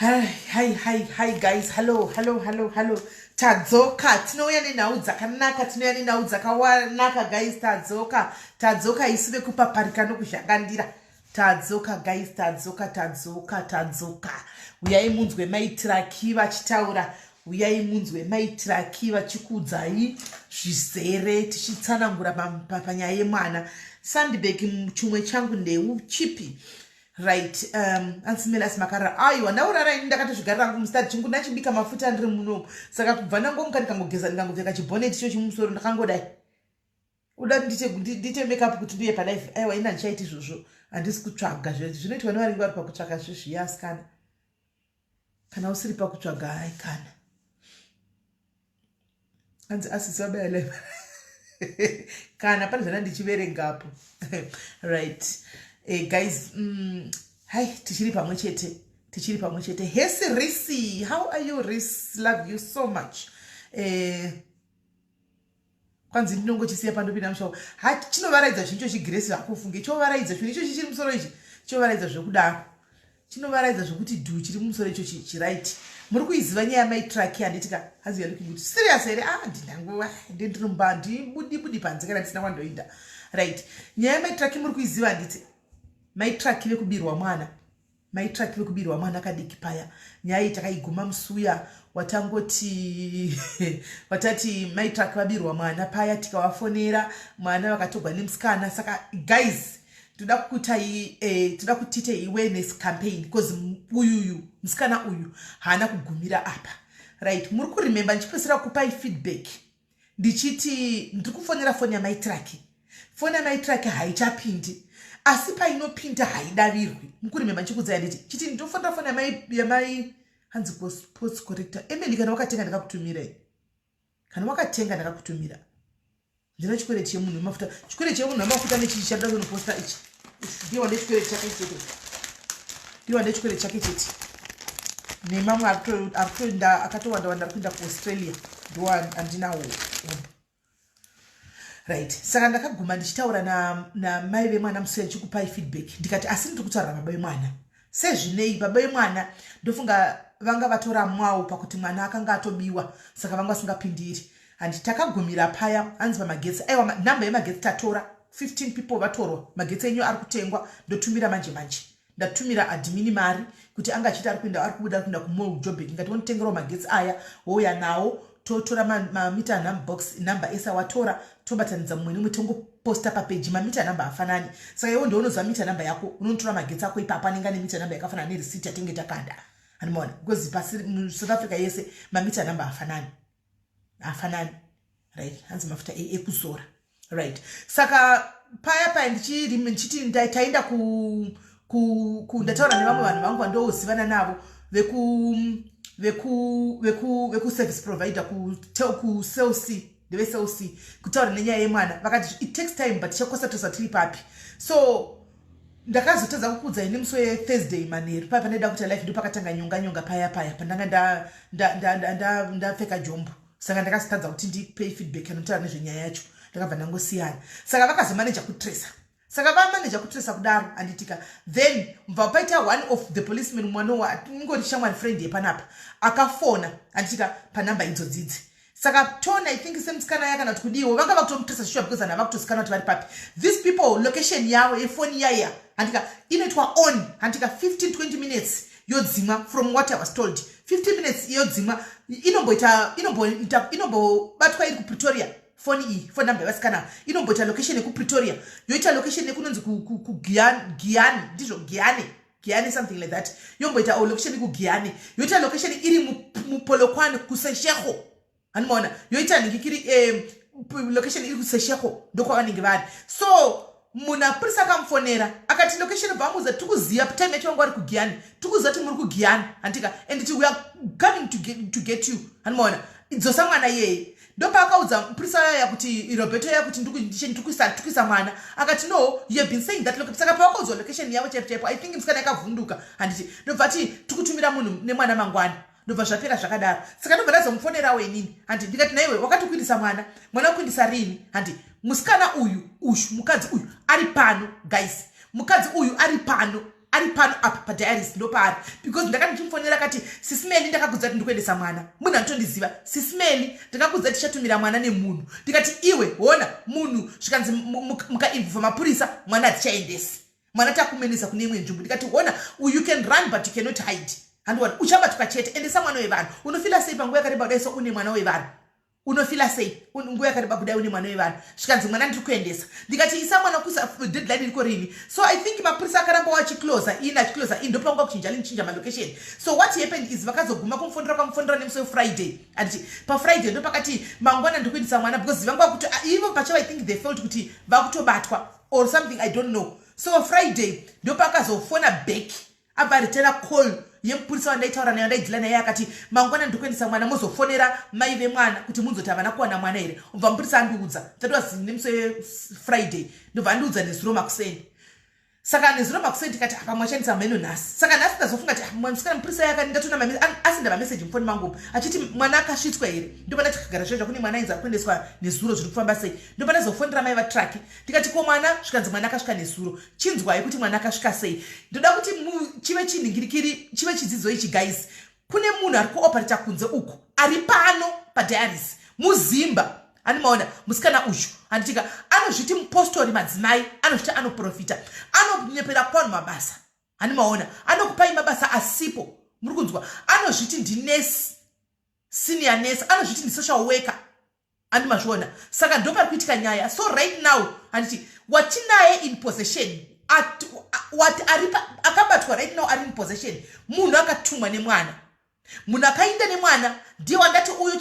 Hi, hi, hi, hi guys. Hello, hello, hello, hello. Tadzoka. Tinouya nenhau dzakanaka, tinouya nenhau dzakawanaka guys. Tadzoka. Tadzoka isu vekupaparika nokuzhangandira. Tadzoka guys, tadzoka, tadzoka, tadzoka. Uyai munzwe maitiraki vachitaura. Uyai munzwe maitiraki vachikudzai zvizere tichitsanangura panyaya yemwana. Sandbag chumwe changu ndeu chipi. right um, ansimelas makarara aiwa ndaurara ini ndakatozvigarira angu mustad chingu ndachibika mafuta ndiri munomu saka kubva ndangomuka ndikangogeza ndikangopfeka chibhonet cho chimusoro ndakangodai uda ndiite makeup kuti ndiye palife aiwa ini handichaiti izvozvo handisi kutsvaga zvinoitwa nevaringi vari pakutsvaka zvezviyasikana kana usiri pakutsvaga hai kana hanzi asisi vabaya live kana pane zvana ndichiverengapo right eh, guys mm, hai tichiri pamwe chete tichiri pamwe chete hesi risi how are you ris love you so much eh, kwanzi ndinongochisiya pandopinda mushawo ha chinovaraidza zvinhu ichochi giresi hakufunge chovaraidza zvinhu ichochi chiri musoro ichi chovaraidza zvekudaro chinovaraidza zvekuti dhu chiri mumusoro ichochi chiraiti muri kuiziva nyaya yamai traki handiti ka hanzi ya looking good serious here ah ndinanguva ndi ndinomba ndibudi budi panze kana ndisina kwandoinda right nyaya yamai traki muri kuiziva handiti mai traki vekubirwa mwana Mai Track vekubirwa mwana kadiki paya nyaya iyi takaiguma musuya watangoti watati Mai Track vabirwa mwana paya tikavafonera mwana vakatogwa nemusikana saka guys toda kukutai eh, toda kutite awareness campaign because uyuyu musikana uyu haana kugumira apa right muri kuremember ndichipesera kupai feedback ndichiti ndiri kufonera foni yamai traki foni yamai traki haichapindi asi painopinda haidavirwi mukuri mema chikudzai nditi chiti ndinofonera foni yamai yamai hanzi post corrector emeli kana wakatenga ndakakutumirai kana wakatenga ndakakutumira ndina chikwereti chemunhu wemafuta chikwereti chemunhu wemafuta nechii chaida kunoposta ichi ndiye wade chikwere chake chete ndiye wade chikwere chake chete nemamwe arikutoenda akatowanda wanda ari kuenda kuaustralia ndo andinawo right saka ndakaguma ndichitaura namai na vemwana musina ndichikupai feedback ndikati asi ndiri kutaura baba vemwana sezvinei baba vemwana ndofunga vanga vatoramwawo pakuti mwana akanga atobiwa saka vanga vasingapindiri handi takagumira paya hanzi pamagetsi aiwa nhamba yemagetsi tatora 15 people vatorwa magetsi enyu ari kutengwa ndotumira manje manje ndatumira adimini mari kuti anga achiita ari kuenda ari kubuda ari kuenda kumol jobek ngati wonotengerawo magetsi aya wouya nawo totora mamita numbox number ese awatora tobatanidza mumwe nemumwe tongo posta papeji mamita number hafanani saka iwo ndounoziva mita number yako unonotora magetsi ako ipapo anenge ane mita number yakafanana nerisiti yatenge takada andimaona because pasi musouth africa yese mamita number hafanani hafanani right hanzi mafuta e, ekuzora right saka paya paya ndichiti taenda ku ndataura nevamwe vanhu vangu vandoozivana navo veku veku veku veku service provider ku tel ku celc ndevesoc kutaura nenyaya yemwana vakati it takes time but chakosa tosa tiri papi so ndakazotadza kukuudza ini musi wethursday manheru paya pandaida kuita life ndo pakatanga nyonga nyonga paya paya pandanga ndapfeka jombo saka ndakazotadza kuti ndipay feedback anotaura nezvenyaya yacho ndakabva ndangosiyana saka vakazomaneja kutresa saka vamaneja kutresa kudaro anditika then mva paita one of the policeman mwana waingori shamwari friend yepanapa akafona anditika panumber idzo dzidzi saka tone i think semtsikana ya kana kuti kudiwo vanga vakutomutresa shuwa because ana vakutozikanwa kuti vari papi these people location yavo yefoni yaya handika inoitwa on handika 15 20 minutes yodzimwa from what i was told 15 minutes yodzimwa inomboita inomboita inombobatwa iri kupretoria foni iyi foni number yevasikana ava inomboita location yekupretoria yoita location yekunonzi kugiani ndizvo giani giani something like that yomboita o oh, location kugiani yoita location iri mupolokwani kuseshekho hanimaona yoita nhingi kiri location iri kuseshekho ndokwavanenge vari so munhu apurisa akamufonera akati location obva amuudza tiri kuziva time yacho vanga vari kugiyani tiri kuziva kuti muri kugiyani handika and ti we are coming to get, to get you handimaona idzosa mwana iyeye ndopaakaudza mupurisa yaya kuti roberto yaya kuti ndikuisa mwana akati no you have been saying that location saka pawakaudzwa location yavo chaipo chaipo i think musikana yakavhunduka handiti ndobva ti tikutumira munhu nemwana mangwana ndobva zvapera zvakadaro saka ndobva ndazomufonerawo inini handi ndikati naiwe wakatokuindisa mwana mwana wekuindisa rini handi musikana uyu uyu mukadzi uyu ari pano guys mukadzi uyu ari pano ari pano apa padiaris ndopaari because ndakati ndichimufonera kati sisimeli ndakakudza kuti ndikuendesa mwana munhu anotondiziva sisimeli ndakakudza tichatumira mwana nemunhu ndikati iwe hona munhu zvikanzi mukainvova mapurisa mwana hatichaendesi mwana takumenesa kune imwe nzvimbo ndikati hona you can run but you cannot hide handiwani uchabatwa chete endesa mwana wevanhu unofila sei panguva yakareba kudai so une mwana wevanhu unofila sei nguva yakareba kudai une mwana wevanhu zvikanzi mwana ndiri kuendesa ndikati isa mwana kusa deadline iriko rini so i think mapurisa akaramba wachiclosa in achiclosa in ndopangwa kuchinja linichinja malocation so what happened is vakazoguma kumufonera kwamufonera nemusi wefriday anditi pafriday ndopakati mangwana ndiri kuendesa mwana because vangwa kuti ah, ivo pachavo i think they felt kuti vakutobatwa or something i don't know so friday ndopakazofona back abva ritera call yemupurisa wandaitaura nayo ndaidila naye akati mangwana ndikuendesa mwana mozofonera mai vemwana kuti munzoti havana kuwana mwana here obva mupurisa andiudza that was nemusi wefriday ndobva andiudza nezuro makuseni saka nezuro makuseni tikati apa mwashandisa mheno nhasi saka nhasi ndazofunga ti ah, msikana mupurisa yaka ndatonaasenda mameseji mufoni mangu achiti mwana akasvitswa here ndobva ndati kagara zvaizva kune mwana ainzi akuendeswa nezuro zviri kufamba sei ndopane zofonera mai vatraki ndikati ko mwana zvikanzi mwana akasvika nesuro chinzwai kuti mwana akasvika sei ndoda kuti chive chinhingirikiri chive chidzidzo ichi guys kune munhu ari kuoperata kunze uku ari pano padiaris muzimba ani maona musikana uyu anditika anozviti mupostori madzimai anozviti anoprofita anonyepera kwanhu mabasa ani maona anokupai mabasa asipo muri kunzwa anozviti ndinesi senior nesi anozviti ndisocial worker and mazviona saka ndo pari kuitika nyaya so right now handiti watinaye in possession wati aripa akabatwa right now ari in possession munhu akatumwa nemwana munhu akainda nemwana ndiye wandati uyo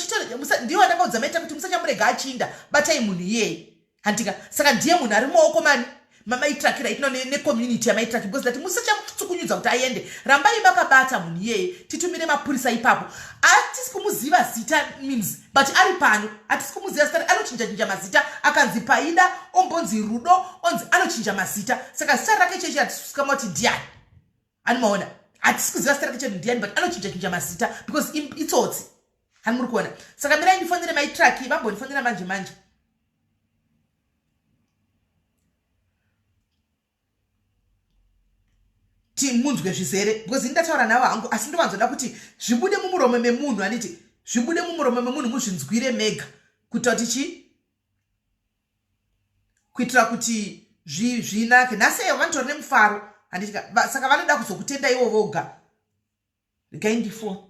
ndiye wandakaudza maita kuti musachamurega achiinda batai munhu iyeye handika saka ndiye munhu ari mumaoko mani mamaitrakira itino necommunity yamaitraki because that musachamutsukunyudza kuti aende rambai makabata munhu iyeye titumire mapurisa ipapo atisi kumuziva zita means but ari pano atisi kumuziva zita anochinja chinja mazita akanzi paida ombonzi rudo onzi anochinja mazita saka zita rake chechi hatisikamati ndiani ani maona hatisi kuziva zita rake chete ndiani but anochinja chinja mazita because itsotsi ani muri kuona saka mirai ndifonere maitraki vambondifonera manje manje timunzwe zvizere because ini ndataura navo hangu asi ndovanzoda kuti zvibude mumuromo memunhu aniti zvibude mumuromo memunhu muzvinzwire mega kuita kuti chii kuitira kuti zvinake nhasi eyo vanotori nemufaro handitika saka vanoda kuzokutenda ivo voga regai ndifo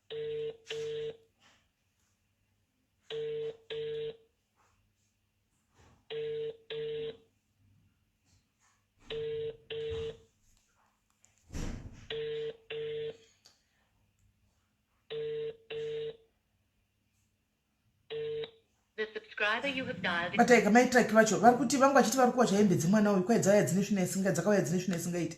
bataika mai traki vacho vari kuti vangu vachiti vari kuwacha hembe dzemwana uyu kwai dzauya dzine svina isinga dzakauya dzine svina isingaiti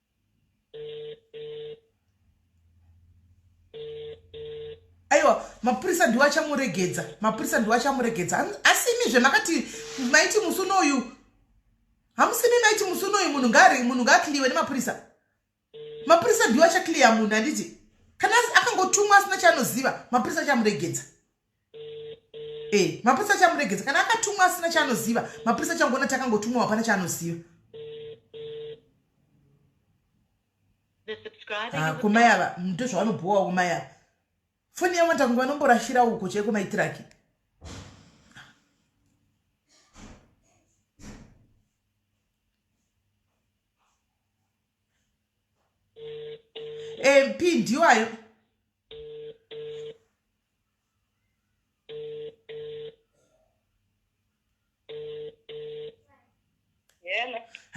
aiwa mapurisa ndiwo achamuregedza mapurisa ndiwo achamuregedza asimi zvemakati maiti musi unoyu hamusimi maiti musi unoyu munhu ngari munhu ngaakliwe nemapurisa mapurisa ndiwo achakliya munhu handiti kana akangotumwa asina chaanoziva mapurisa achamuregedza e mapurisa achamuregedza kana akatumwa asina chaanoziva mapurisa achangoona takangotumwa hapana chaanoziva ah, kumai ava ndo zvavanobhowa kumai ava foni yavo ndanga vanomborashira uko chaiko maitiraki mp ndiwayo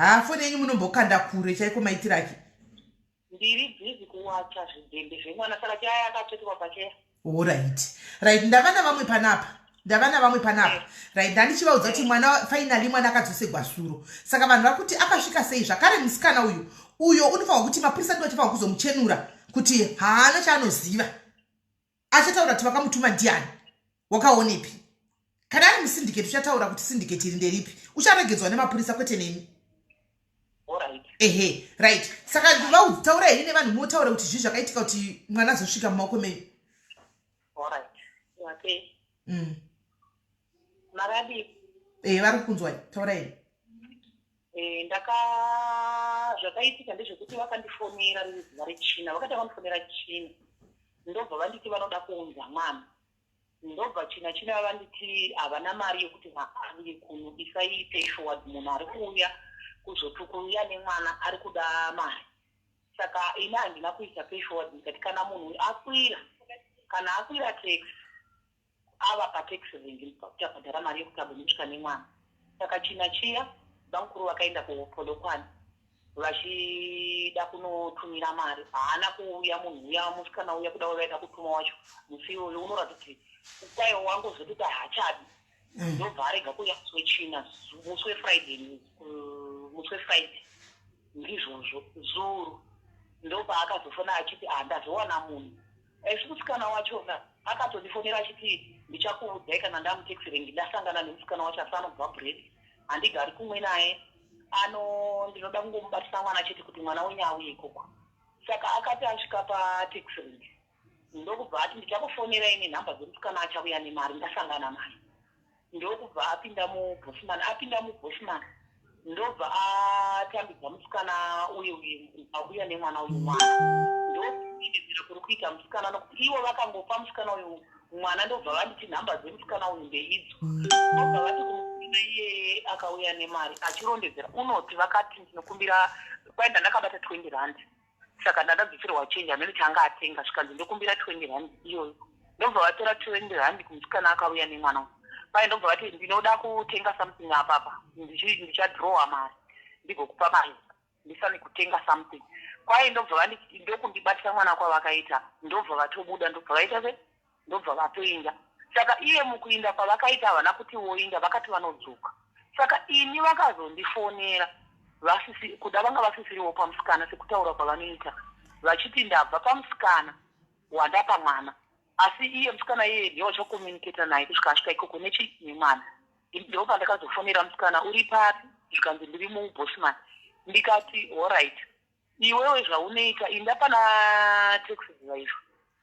haa foni yenyu munombokanda kure chaiko maitiraki ndiri bhizi kuwacha zvidhende zvemwana saka chaya akatsvetwa pacheya orit rit ndava navamwe panapa ndava navamwe panapa rit ndandichivaudza kuti mwana fainali mwana akadzosegwa suro saka vanhu vakuti akasvika sei zvakare musikana uyu uyo unofanirwa kuti mapurisa ndivachifanirwa kuzomuchenura kuti haana chaanoziva achataura kuti vakamutuma ndiani wakaonepi kana ari musindiketi uchataura kuti sindiketi iri nderipi ucharegedzwa nemapurisa kwete nemi ehe right saka vautaura heri nevanhu motaura kuti zvii zvakaitika kuti mwana azosvika mumaoko menyu mm. ehe vari kukunzwai taurai Eh, ndaka zvakaitika ndezvekuti vakandifonera riri zuva rechina vakatanga kundifonera china ndobva vanditi vanoda kuunza mwana ndobva china china vanditi havana mari yekuti vaaviye kuno isai pay forward munhu ari kuuya kuzotukuuya nemwana ari kuda mari saka ini handina kuisa pay forward ndikati kana munhu akwira kana akwira tax ava patax rank ndipakutavhadhara mari yekutabo ndinosvika nemwana saka china chiya bamukuru vakaenda kupolokwane vachida kunotumira mari haana kuuya munhu uya musikana uya kuda wavaida kutuma wacho musi iwoyo unoratidza kuti ukwayo wangozotoita hachabi mm. ndobva arega kuuya musi wechina musi wefriday musi wefriday ndizvozvo zuru ndopaakazofona achiti handazowana ah, munhu Asi musikana wachona akatondifonera achiti ndichakuudzai kana ndamutaxi rank ndasangana nemusikana wacho asi anobva bread handigari kumwe naye ano ndinoda kungomubatisa mwana chete kuti mwana wenyu auye ikoko saka akati asvika pataxi rank ndokubva ati ndichakufonera ini nhamba dzemusikana achauya nemari ndasangana naye ndokubva apinda mubosman apinda mubosman ndobva atambidza musikana uye uye auya nemwana uyu mwana ndokuiidzira kuri kuita musikana nokuti ivo vakangopa musikana uyu mwana ndobva vanditi nhamba dzemusikana uyu ndeidzo obva vati kumusikana iyeye akauya nemari achirondedzera unoti vakati ndinokumbira kwaenda ndakabata 20 rand saka ndakadzoserwa change hameno chaanga atenga zvikanzi ndokumbira 20 rand iyoyo ndobva vatora 20 rand kumusikana akauya nemwana uyu paye ndobva vati ndinoda kutenga something apapa ndichadrowa mari ndigokupa mari ndisane kutenga something kwaye ndobva ndokundibatisa mwana kwavakaita ndobva vatobuda ndobva vaita se ndobva vatoinda saka iye mukuinda kwavakaita havana kuti voinda vakati vanodzoka saka ini vakazondifonera vasisi kuda vanga vasisiriwo pamusikana sekutaura kwavanoita vachiti ndabva pamusikana wandapa mwana asi iye musikana iye ndiye wachakomuniketa naye kusvika asvika ikoko nechi nemwana ndo pandakazofonera musikana uri papi zvikanzi ndiri mubosman ndikati horit Iwewe zvauneika inda pana taxi driver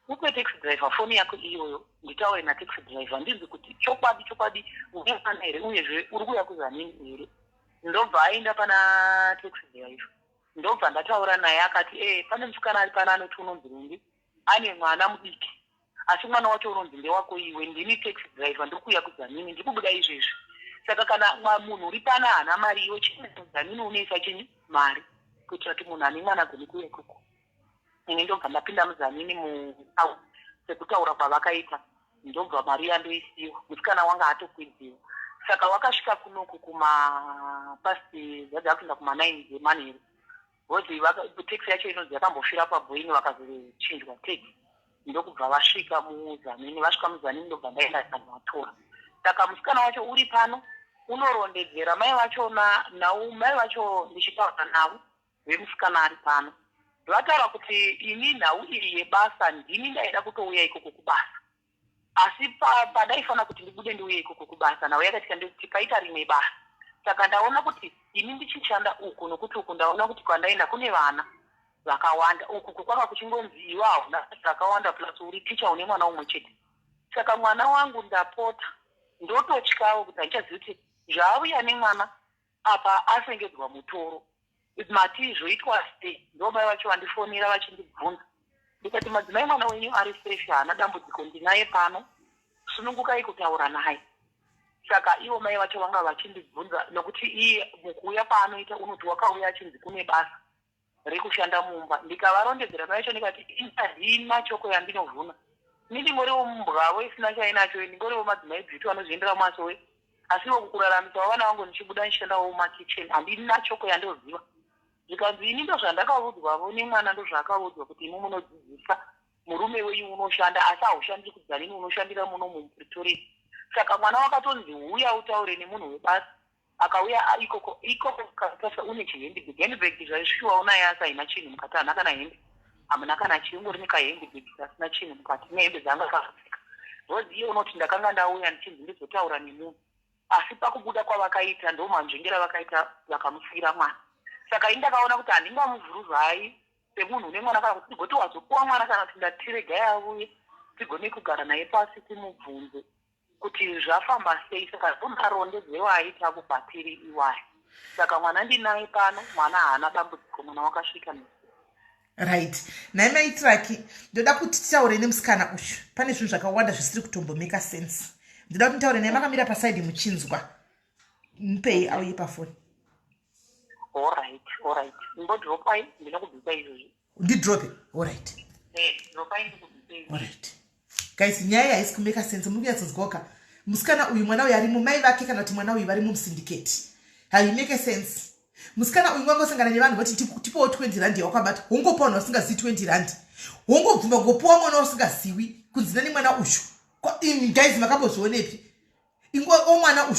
upe taxi driver foni yako iyoyo nditaure nataxi driver ndinzi kuti chokwadi chokwadi uneana here uyezve uri kuya kuzanini here ndobva aenda pana taxi driver ndobva ndataura naye akati ee eh, pane musikana ari pana anoti unonzi rumbi ane mwana mudiki asi mwana wacho unonzi ndewako iwe ndini tax driver ndiri kuuya kudzamini ndiri kubuda izvezvi saka kana munhu uri pana haana mari iwe chidzamini unoisa chinyi mari kuitira kuti munhu ane mwana agone kuuya ikoko ini ndobva ndapinda muzamini mu sekutaura kwavakaita ndobva mari yandoisiwa musikana wanga atokwidziwa saka wakasvika kunoku kumapasti zvaja kuenda kumanine dzemanheru Voti tax yacho inonzi yakambofira paBoeing vakazochinjwa tax ndokubva vasvika muZanini. Vasvika muZanini ndobva ndaenda ndikanovatora. Saka musikana wacho uri pano unorondedzera mai vacho nau mai vacho ndichitaura navo vemusikana ari pano vataura kuti ini nhau iyi yebasa ndini ndaida kutouya ikoko kubasa asi padaifanira kuti ndibude ndiuye ikoko kubasa nhau yakaitika ndekuti paita rimwe basa saka ndaona kuti ini ndichishanda uku nokuti uku ndaona kuti kwandaenda kune vana vakawanda uku kukwanga kuchingonzi iwe hauna zvakawanda plus uri ticha une mwana umwe chete saka mwana wangu ndapota ndototyawo kuti handichazivi kuti zvaavuya nemwana apa asengedzwa mutoro kuti matii zvoitwa sei ndo mai vacho vandifonera vachindibvunza ndikati madzimai mwana wenyu ari fresh haana dambudziko ndinaye pano sunungukai kutaura naye saka ivo mai vacho vanga vachindibvunza nokuti iye mukuuya kwaanoita unoti wakauya achinzi kune basa rekushanda mumba ndikavarondedzera payacho ndikati ini handina choko yandinovhuna ini ndingoriwo mbwavo isina chainacho ndingoriwo madzimai bviti vanozviendera mumasowe asi vo kukuraramisawo vana vangu ndichibuda ndichishandawo mumakitchen handina choko yandoziva zvikanzi ini ndozvandakavudzwavo nemwana ndozvaakavudzwa kuti imi munodzidzisa murume wenyu unoshanda asi haushandiri kudzanini unoshandira muno mumupretoria saka mwana wakatonzi huya utaure nemunhu webasa akauya ari ikoko ikoko katasva une chihandbag handbag zvaisviwa unaye asi haina chinhu mukati hana kana hembe hamuna kana chiungori nekahandbag kasina chinhu mukati nehembe dzanga kakapfeka bcause iye unoti ndakanga ndauya ndichinzi ndizotaura nemunhu asi pakubuda kwavakaita ndo manzvengera vakaita vakamusiyira mwana saka ini ndakaona kuti handingamuvhuruvai semunhu une mwana kana kuti ndigoti wazopuwa mwana kana kuti ndatiregai avuye tigone kugara naye pasi timubvunze kuti zvafamba sei saka ndomarondedzero aita kubatiri iwayo saka mwana ndinaye pano mwana haana dambudziko mwana wakasvika ne right nhai maitiraki ndoda kuti titaure nemusikana uyu pane zvinhu zvakawanda zvisiri kutombomeka sense ndoda kuti nditaure naye makamira pasaidi muchinzwa mupei auye pafoni orit orit mbodropai ndinokubvisa izvozvi ndidrope orit orit guys nyaya yaisi kumeka sense muri kunyatsonzwaoka musikana uyu mwana uyu arimo mai vake kana kuti mwana uyu varimo musindiketi haimeke sense musikana uyu wangosangana nevanhu vati tipowo 20 rand yawakwabata hongopa vanhu vasingazivi 20 rand hongobvuma ngopowa mwana usingaziwi kunzina nemwana uyu guys makambozvionepi ingo omwana uyu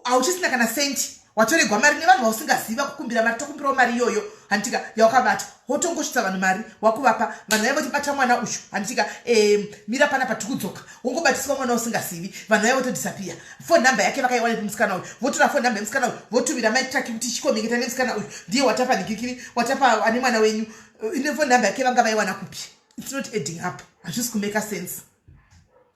hauchisina kana senti watoregwa mari nevanhu vausingaziva kukumbira mari tokumbirawo mari iyoyo handitika yaukabata wotongosvitsa vanhu mari wakuvapa vanhu vaiva votibata mwana uyu handitika mira pana patikudzoka wongobatiswa mwana usingazivi vanhu vaiva votodisapiya fon number yake vakaiwana ipi musikana uyu votora fon number yemusikana uyu votumira maitraki kuti chikomeketa nemusikana uyu ndiye watapa nigikiri watapa ane mwana wenyu eh, ine fon number yake vanga vaiwana kupi its not adding up hazvisi kumeka sense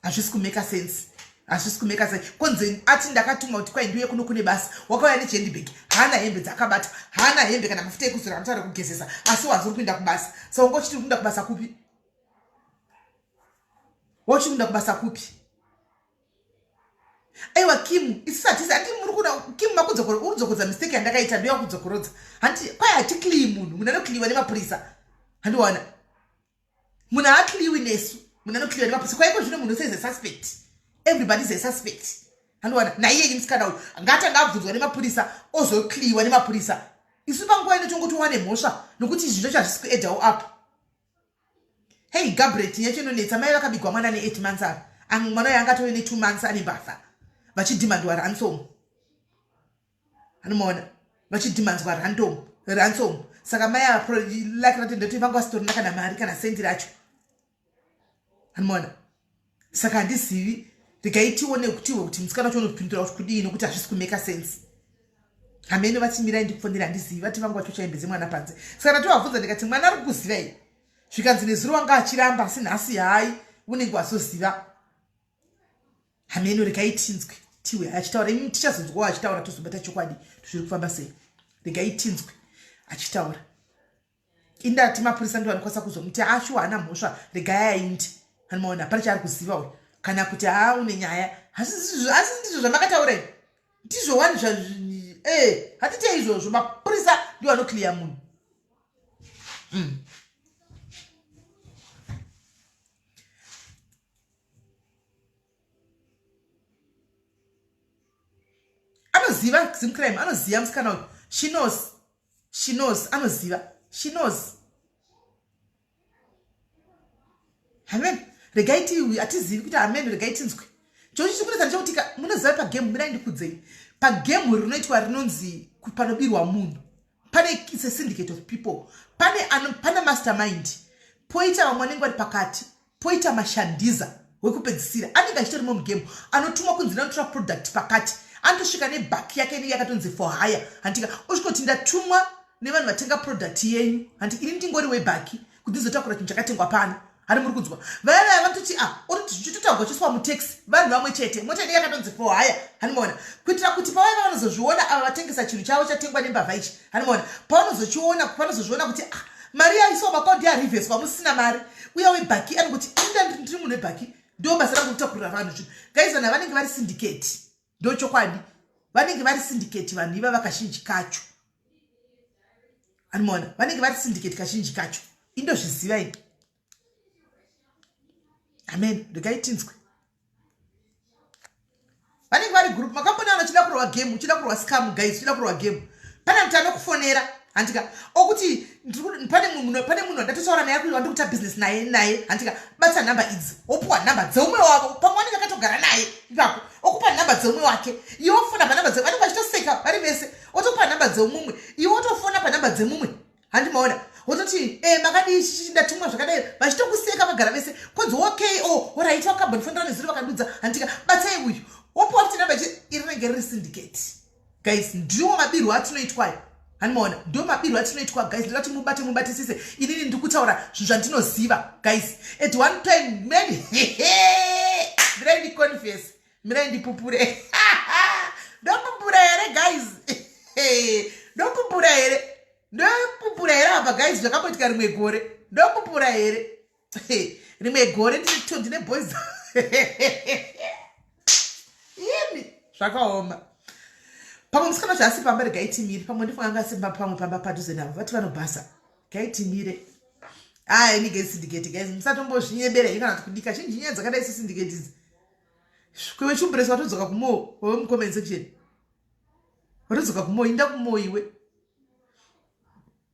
hazvisi kumeka sense hazvisi kumeka sense konzi ati ndakatumwa kuti kwai ndiuye kuno kune basa wakauya nechendibag haana hembe dzakabata haana hembe kana mafuta ekuzora anotaura kugezesa asi wanzi uri kuenda kubasa sa wanga uchiti uri kuenda kubasa kupi wauchiti kuenda kubasa kupi aiwa kim isisati sati muri kuda kim makudzokorodza mistake yandakaita ndoya kudzokorodza hanti kwai hatikliyi munhu munhu anokliyiwa nemapurisa handiwana munhu haatliwi nesu munhu anotliwa nemapusi kwaiko zvino munhu seize suspect everybody is a suspect andowana naiyeyi musikana uyu ngatanga abvunzwa nemapurisa ozokliwa nemapurisa isu panguva ino tongotowane mhosva nokuti izvi zvacho hazvisi kuedawo apo hei gabret yacho inonetsa mai vakabigwa mwana ne8 months ava amwe mwana uyo angatove ne2 months ane mbavha vachidhimandwara ansomo anomaona vachidhimanzwa random ransom saka mai ava laki ratenda kuti vanga vasitorina kana mari kana sendi racho anomaona saka handizivi regai tione kutiwo kuti musikana wacho unopindura kuti kudii nokuti hazvisi kumeka sense hameno vachimirai ndikufonera handizivi vati vanga vacho chaimbedze mwana panze saka ndatovabvunza ndikati mwana ari kukuzivai zvikanzi nezuro wanga achiramba asi nhasi hai unenge wazoziva hameno regai tinzwe tiwe achitaura imi tichazonzwawo achitaura tozobata chokwadi tozviri kufamba sei regai tinzwe achitaura indati mapurisa ndo anokwanisa kuzomuti ashuwa ana mhosva regai aindi anomaona hapana chaari kuziva uyo kana kuti haa une nyaya asi ndizvo zvamakataura i ndizvo wani zva e hatite izvozvo mapurisa ndo anokliya munhu mm. anoziva zimcrime anoziva musikana uyu she knows she knows anoziva she knows amen regai ti hatizivi kuti amen regai tinzwe chochi chikuratidza ndechokuti munoziva pagame mirai ndikudzei pagame rinoitwa rinonzi panobirwa munhu pane it's a syndicate of people pane ano pane mastermind poita vamwe vanenge vari pakati poita mashandiza wekupedzisira anenge achitorimo mugame anotumwa kunzi nanotora product pakati anotosvika nebak yake inenge yakatonzi for hire handika osvikoti ndatumwa nevanhu vatenga product yenyu handi ini ndingori webaki kundizotakura chinhu chakatengwa pano hari muri kunzwa vaya vaya vanototi a ah, oritichitotaugwa chiswa mutaxi vanhu vamwe chete mota ine yakatonzi fo haya hanimoona kuitira kuti pavaiva vanozozviona ava vatengesa chinhu chavo chatengwa nembavha ichi hanimoona pavanozochiona vanozozviona kuti a ah, mari yaiso makaondi yarivheswa musina mari uya webhaki anokuti inda ndiri munhu webhaki ndo basa rangu kutakurira vanhu zvinhu gaizana vanenge vari sindiketi ndochokwadi vanenge vari sindiketi vanhu iva vakazhinji kacho animoona vanenge vari sindiketi kazhinji kacho indozviziva ini amen ndikaitinzwe vanenge vari group makambona vachida kurova game uchida kurova scam guys uchida kurova game pane mti anokufonera handika okuti pane munhu pane munhu andatotaura naye akuti wandikuita business naye naye handika bata nhamba idzi wopiwa nhamba dzeumwe wavo pamwe wanenge akatogara naye ipapo okupa nhamba dzeumwe wake iwe wofona panhamba dze vanenge vachitoseka vari vese wotopa nhamba dzeumumwe iwe wotofona panhamba dzemumwe handi maona wototi e eh, makadii chichi ndatumwa zvakadai vachitokuseka vagara vese kodzi okay o oh, oraiti wakabonifondirane ziri vakandudza handika batai uyu wopiwa kuti nhamba iri rinenge riri syndicate guys ndiwo mabirwo atinoitwayo hanimaona ndo mabirwo atinoitwa guys ndoda kuti mubate mubatisise inini ndiri kutaura zvinhu zvandinoziva guys at one time man mirai ndiconfes mirai ndipupure ndopupura here guys ndopupura here ndopupura here apa guys zvakamboitika rimwe gore ndopupura here rimwe gore ndito ndine boys imi zvakaoma pamwe musikana zvaasi pamba regaitimire pamwe ndifunga anga asimba pamwe pamba padhuze navo vati vanobhasa gaitimire aya inige sindiketi guys musatombozvinyebera i kana kudika chinji nyaya dzakadai sesindiketi idzi kwewe chumburesi watodzoka kumoo wewe mucomment section watodzoka kumoo inda kumoo iwe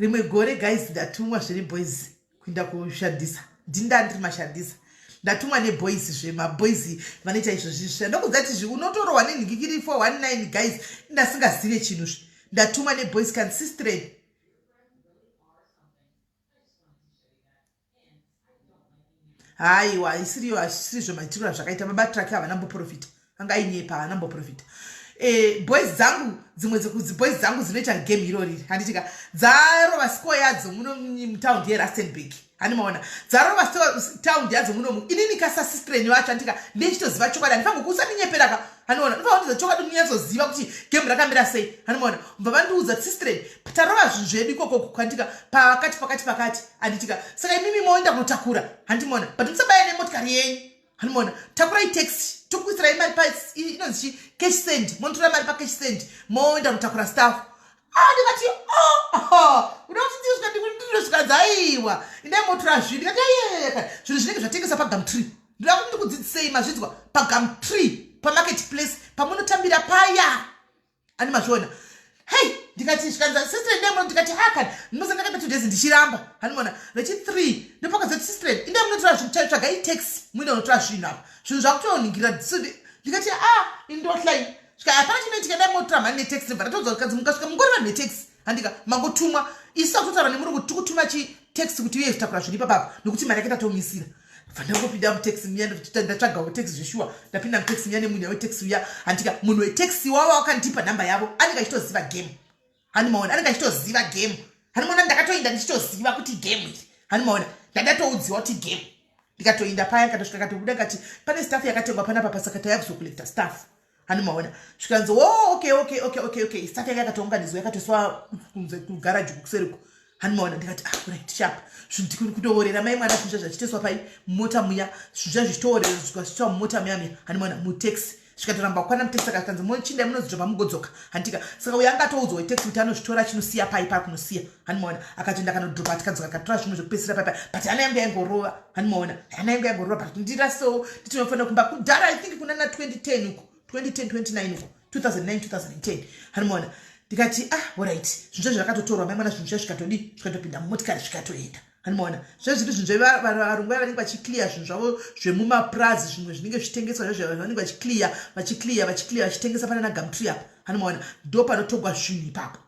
rimwe gore guys ndatumwa zviri boys kuinda kushandisa ndinda ndiri mashandisa ndatumwa neboys zve maboys vanoita izvo zvisvira ndokudza ti zvi unotorohwa nenhikikiri 419 guys ndasingazive chinhu zvi ndatumwa neboys consistent haiwa haisiriyo hazvisirizvo maitirwo azvakaita baba truck havana mboprofita angainyepa haana mboprofita e, boys dzangu dzimwe boys dzangu dzinoita game iro riri handitika dzarova score yadzo muno mutaundi yerustenburg hani maona dzarova taundi yadzo munomu inini kasasistrenyu acho handitika ndichitoziva chokwadi handifangokuusa ndinyeperaka haniona ndobva vandiudza chokwadi munyatsoziva kuti game rakamira sei haniona bva vandiudza sistren tarova zvinhu zvedu ikoko kukwantika pakati pakati pakati anditika saka imimi moenda kunotakura handimona but musabaya nemotikari yenyu handimona takurai taxi tokuisirai mari pa inonzi chi cash send monotora mari pacash send moenda kunotakura staff ah, ndikati uda kuti ndizvika ndikundiro zvikanzi aiwa indai motora zvinhu ndikati ayeyeka zvinhu zvinenge zvatengesa pagamtree ndoda kuti ndikudzidzisei mazvidzwa pagam tree pamarket place pamunotambira paya ani mazviona hei ndikati zvikanza sister inde muno ndikati hakan ndinosa ndakaita two days ndichiramba hanimona rechi three ndopakazoti sister inde munotora zvinhu chaio tsvaga itax muine unotora zvinhu apa zvinhu zvakutonhingira ndikati a ah, indohlai svika hapana chinoitika ndai motora mhani netax nebva ndatoudza kuti kanzi mukasvika mungori vanhu netax handika mangotumwa isu akutotaura nemurungu tiri kutuma chitax kuti uye kutakura zviri ipapapa nokuti mari yake tatomisira vandakopinda mutaxi muya ndatsvaga wetaxi zveshuwa ndapinda mutaxi muya nemunya wetaxi uya handika munhu wetaxi wavo wakandipa nhamba yavo anenge achitoziva game hani maona anenge achitoziva game hani maona ndakatoinda ndichitoziva kuti game iri hani maona ndandatoudziwa kuti game ndikatoinda paya katosvika katobuda kati pane staff yakatengwa panapa pasaka taya kuzokulecta staff hani maona zvikanzi wo oh, okay okay okay okay okay saka yanga yakatounganidzwa yakatoiswa kunze kugaraji kukuseriko hani maona ndikati ah right sharp zvinhu kutoorera mai mwana zvinhu zvazvachitoiswa pai mumota muya zvinhu zvazvichitoorera zvikazvitoiswa mumota muya muya hani maona mutaxi zvikatoramba kukwana mutaxi saka zvikanzi mochinda munozidzoka mugodzoka hantika saka uyo anga atoudzwa wetaxi kuti anozvitora chinosiya pai paa kunosiya hanimaona akatoenda akanodropa tikadzoka katora zvimwe zvekupedzisira paipa but hana yangu yaingorova hanimaona hana yangu yaingorova but ndirasewo nditinofanira kumba kudhara i think kunana 2010 uko 2010 29 uko 2009 2010 hanimaona ndikati ah orit zvinhu zvezvi rakatotorwa maimwana zvinhu zvezvi zvikatodii zvikatopinda mumotikari zvikatoenda animoona zvezviri zvinhu zvevarungu vaya vanenge vachiclear zvinhu zvavo zvemumapurazi zvimwe zvinenge zvitengeswa zvezvavanenge vachiclear vachiclear vachiclear vachitengesa panana gamtri apa animoona ndo panotogwa zvinhu ipapo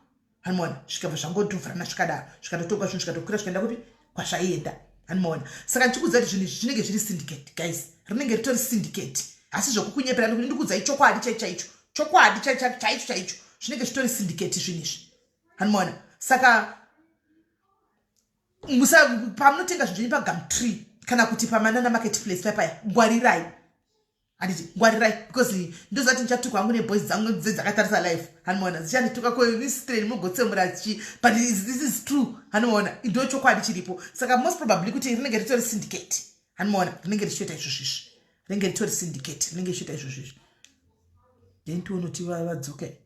hanimona zvikabva zvangotovhurana zvikadaro zvikatotoka zvinhu zvikatokwira zvikaenda kupi kwazvaienda hanimona saka ndichikuudza kuti zvinhu izvi zvinenge zviri syndicate guys rinenge ritori syndicate asi zvokukunyepera nekuti ndikuudzai chokwadi chai chaicho chokwadi chaicho chaicho zvinenge zvitori syndicate zvinhu izvi hanimona saka musa pamunotenga zvinhu zvenyu pagam tree kana kuti pamanana market place paya paya ngwarirai handiti ngwarirai because ndoziva kuti ndichatukwa hangu neboys dzangu dze dzakatarisa life hanoona dzichandituka ko istreni mogotsemura chi but this is true hanoona ndo chokwadi chiripo saka most probably kuti rinenge ritori syndicate hanoona rinenge richitoita izvozvo izvi rinenge ritori syndicate rinenge richitoita izvozvo izvi then tionoti vadzoke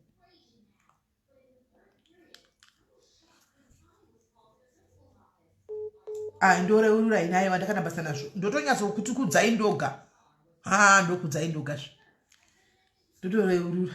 Ah, ndoreurai naye vandakana basa nazvo ndotonyatsa kuti kudzai ndoga ha ah, ndokudzai ndoga zve ndotoreurura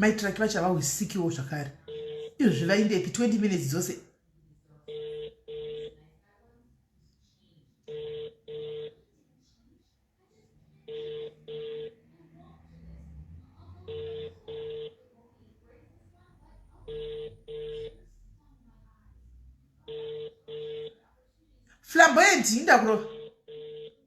maitiraki vachava usikiwo zvakare izvozvi vaindepi 20 minutes dzose flamboyant indakurova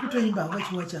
kutoimba havachiwacha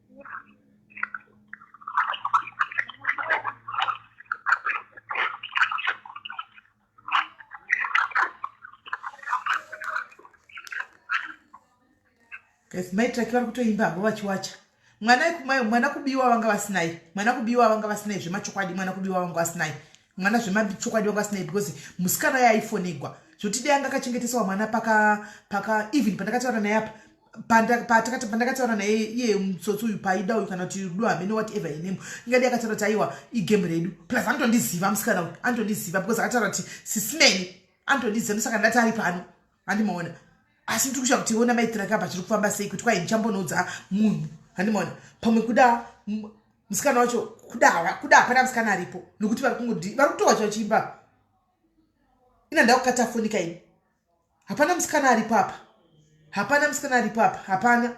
maitraki vari kutoimba havo vachiwacha mwana ikumayo mwana kubiwa vanga vasinayi mwana kubiwa vanga vasinayi zvemachokwadi mwana kubiwa vanga vasinayi mwana zvemachokwadi vanga vasinayi because musikana yaifonegwa zvotidei anga akachengeteswa mwana paka paka even pandakataura naye apa pandakataura naye iye mutsotsi uyu paida uyu kana kuti rudo hamene whatever her name ingadi akataura kuti aiwa igame redu plus anotondiziva musikana uyu anotondiziva because akataura kuti sisimeni anotondiziva ndosaka ndati ari pano handimaona asi ndiri kushava kuti ona maitirakaba zviri kufamba sei kuti kwai ndichambonoudza munhu handimaona pamwe kuda musikana wacho kuda kuda hapana musikana aripo nokuti vari kungodi vari kutowa chachiimba ina ndakukataa fonika ini hapana musikana aripo apa hapana musikana aripo apa hapana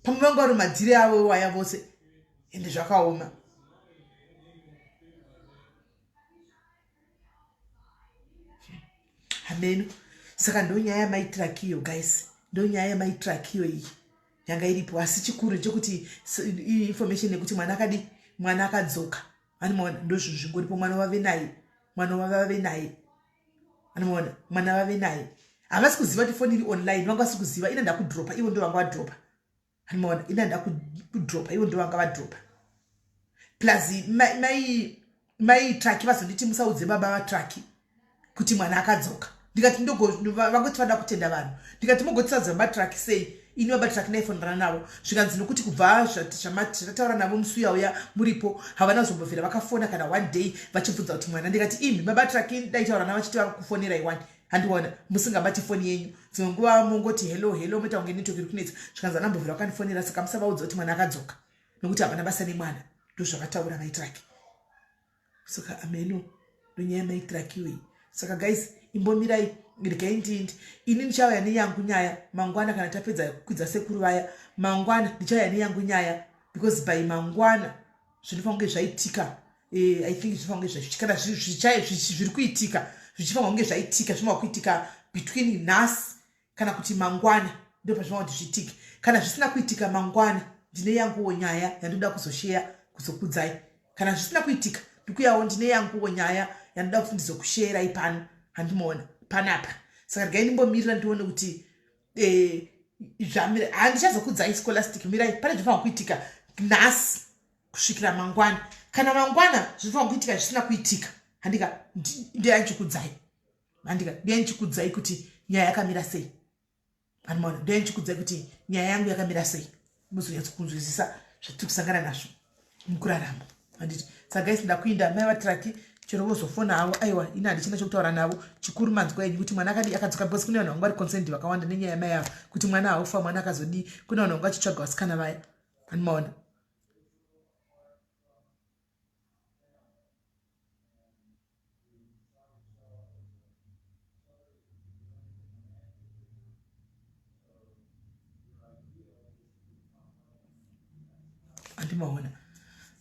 pamwe vangu vari madziri avo iwaya vose ende zvakaoma hameno saka ndo nyaya yamaitirakiyo guys ndo nyaya yamaitirakiyo iyi yanga iripo asi chikuru chekuti information yekuti mwana akadi mwana akadzoka animoona ndozvinhu zvingoripo mwana wave naye mwana wavave naye anoona mwana vave naye havasi kuziva kuti foni iri online vanga vasi kuziva ina ndakudropa ivo ndo vanga vadropa anoona ina ndakudropa ivo ndo vanga vadropa plus mai mai traki vazonditi musaudze baba vatraki kuti mwana akadzoka ndikati ndogoti vada kutenda vanhu ndikati mogotisaudza baba traki sei ini baba tisati naifonera navo zvikanzi nokuti kubva zvamati tataura navo musi uya uya muripo havana kuzombovhera vakafona kana one day vachibvunza kuti mwana ndikati imi baba traki daitaura navo chiti vari kufonera iwani handiona musingabati foni yenyu dzimwe nguva mongoti hello hello moita kunge netoki iri kunetsa zvikanzi ana mbovhera vakandifonera saka musavaudza kuti mwana akadzoka nokuti havana basa nemwana ndozvavataura vaitraki saka ameno ndonyaya maitirakiwe iyi saka guys imbomirai regai ndiindi ini ndichauya neyangu nyaya mangwana kana tapedza kukwidza sekuru vaya mangwana ndichauya neyangu nyaya because by mangwana zvinofanira kunge zvaitika eh, i think zvinofanira kunge zvaitika kana zviri kuitika zvichifanira kunge zvaitika zvinofanira kuitika between nhasi kana kuti mangwana ndo pazvinova kuti zviitike kana zvisina kuitika mangwana ndine yanguwo nyaya yandoda kuzosheya kuzokudzai kana zvisina kuitika ndikuyawo ndine yanguwo nyaya yandoda kuti ndizokusheerai pano handimaona panapa saka regai ndimbomirira ndione kuti eh, zvamira handichazokudzai scholastic mirai pane zvinofanira kuitika nhasi kusvikira mangwana kana mangwana zvinofanira kuitika zvisina kuitika handika ndiyanchikudzai Andika, ndiye ndichikudzai kuti nyaya yakamira sei. Anmona, ndiye ndichikudzai kuti nyaya yangu yakamira sei. Muzonyatso kunzwisisa zvatiri kusangana nazvo mukurarama. Anditi, sagaisi ndakuinda mai vatraki chero vozofona havo aiwa ini handichina chokutaura navo chikuru manzwa enyu kuti mwana akadii akadzoka because kune vanhu vangu vari concerned vakawanda nenyaya yamai avo kuti mwana haufa mwana akazodii kune vanhu vangu vachitsvaga vasikana vaya anmaona andimaona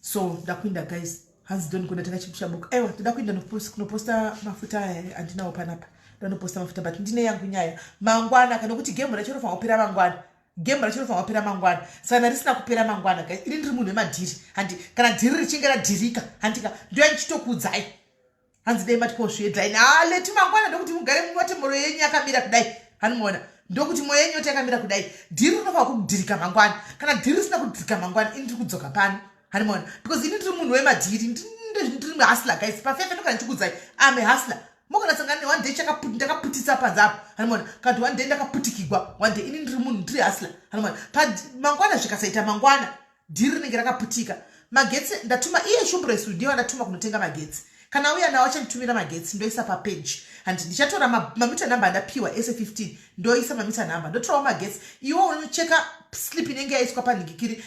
so ndakuinda guys hanzi don kuda taka chipusha book aiwa toda kuinda kunoposta mafuta aya eh, andinawo panapa ndanoposta mafuta but ndine yangu nyaya mangwana kana kuti gemu racho rofanira kupera mangwana game racho rinofanira kupera mangwana sana risina kupera mangwana ka iri ndiri munhu wemadhiri handi kana dhiri richinge radhirika handika ndoya ndichitokuudzai hanzi dai matikozviedzai naleti mangwana ndokuti mugare munote moro yenyu yakamira kudai hanimuona ndokuti moyo yenyu yote yakamira kudai dhiri rinofanira kudhirika mangwana kana dhiri risina kudhirika mangwana ini ndiri kudzoka pano hanimuona because ini ndiri munhu wemadhiri ndiri hasla guys pafefe ndokana ndichikuudzai ame hasla mukanasangana ne one day ndakaputitsa panze apo hanomona kati one day ndakaputikigwa one day ini ndiri munhu ndiri hasla hanomona mangwana zvikasaita mangwana dhiri rinenge rakaputika magetsi ndatuma iye shumbresu ndiye vandatuma kunotenga magetsi kana uya nawo achanditumira magetsi ndoisa papeji and ndichatora mamita number andapiwa ese 15 ndoisa mamita number ndotorawo magetsi iwo unocheka slip inenge yaiswa panhingikiri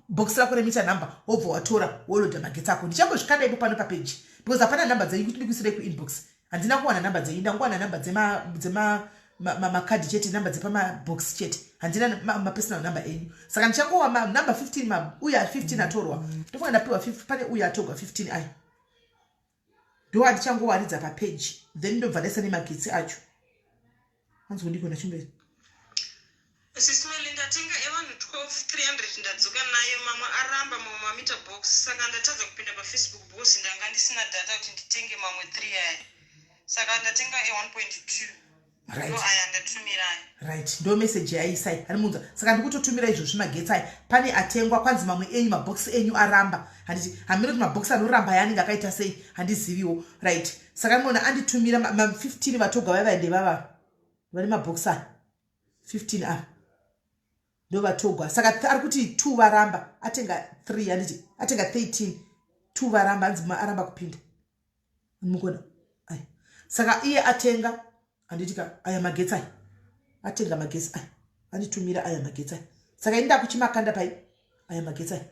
box rako remita number wobva watora woloda magetsi ako ndichangozvikanda ipo pano papeji because hapana number dzenyu kuti ndikuisirei kuinbox handina kuwana number dzenyu ndangowana number dzemakadhi chete number dzepamabox chete handina mapersonal number enyu saka ndichangowa number 15 uye 15 atorwa ndofunga ndapiwa pane uye atorwa 15 aya ndo andichangowaridza papeji then ndobva ndaisa nemagetsi acho hanzi kundiko nachimberi sismelidatenga evanhu 12300 ndadzoka nayo mamwe aramba mamwe mamita box saka ndatadza kupinda pafacebook bos ndanga ndisina data kuti nditenge mamwe 3 aya saka ndatenga e1.2 right ndo meseji yaisai ari munza saka ndikutotumira izvo zvimagetsi ayi pane atengwa kwanzi mamwe enyu mabhokisi enyu aramba handiti hamiri kuti mabhokisi anoramba yaanenge akaita sei handiziviwo right saka mona anditumira ma15 vatoga vaiva ende vava vane mabhokisi aya 15 ava ndo vatogwa saka ari kuti two varamba atenga three handiti atenga 13 two varamba hanzi aramba kupinda mukona aya saka iye atenga handiti ka aya magetsi aya atenga magetsi aya anditumira aya magetsi aya saka ini ndakuchimakanda pai aya magetsi aya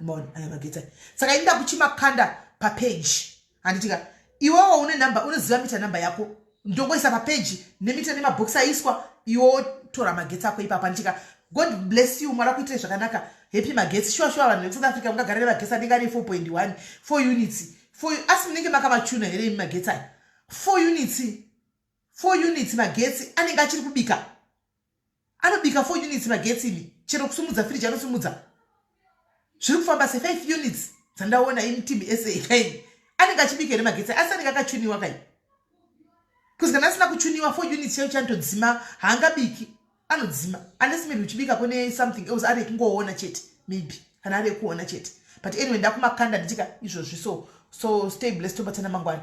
maona aya magetsi aya saka ini ndakuchimakanda papeji handiti ka iwewo une number unoziva mita number yako ndongoisa papeji nemita nemabhokisi aiswa iwo tora magetsi ako ipapa ndichika god bless you mwari akuitire zvakanaka happy magetsi shuwa shuwa vanhu vekusouth africa mungagara nemagesi anenge ane 4.1 four units four asi munenge makamachuna here imi magetsi aya four units four units magetsi anenge achiri kubika anobika 4 units magetsi imi chero kusumudza firiji anosumudza zviri kufamba se 5 units dzandaona ini team sa kaini anenge achibika here magetsi asi anenge akachuniwa kai bcause kana asina kuchuniwa 4 units chayo chanotodzima haangabiki anodzima unless maybe uchibika kune something else ari ekungoona chete maybe kana ari ekuona chete but anyway ndakumakanda nditika izvozvi so so stay blessed tobatsana mangwana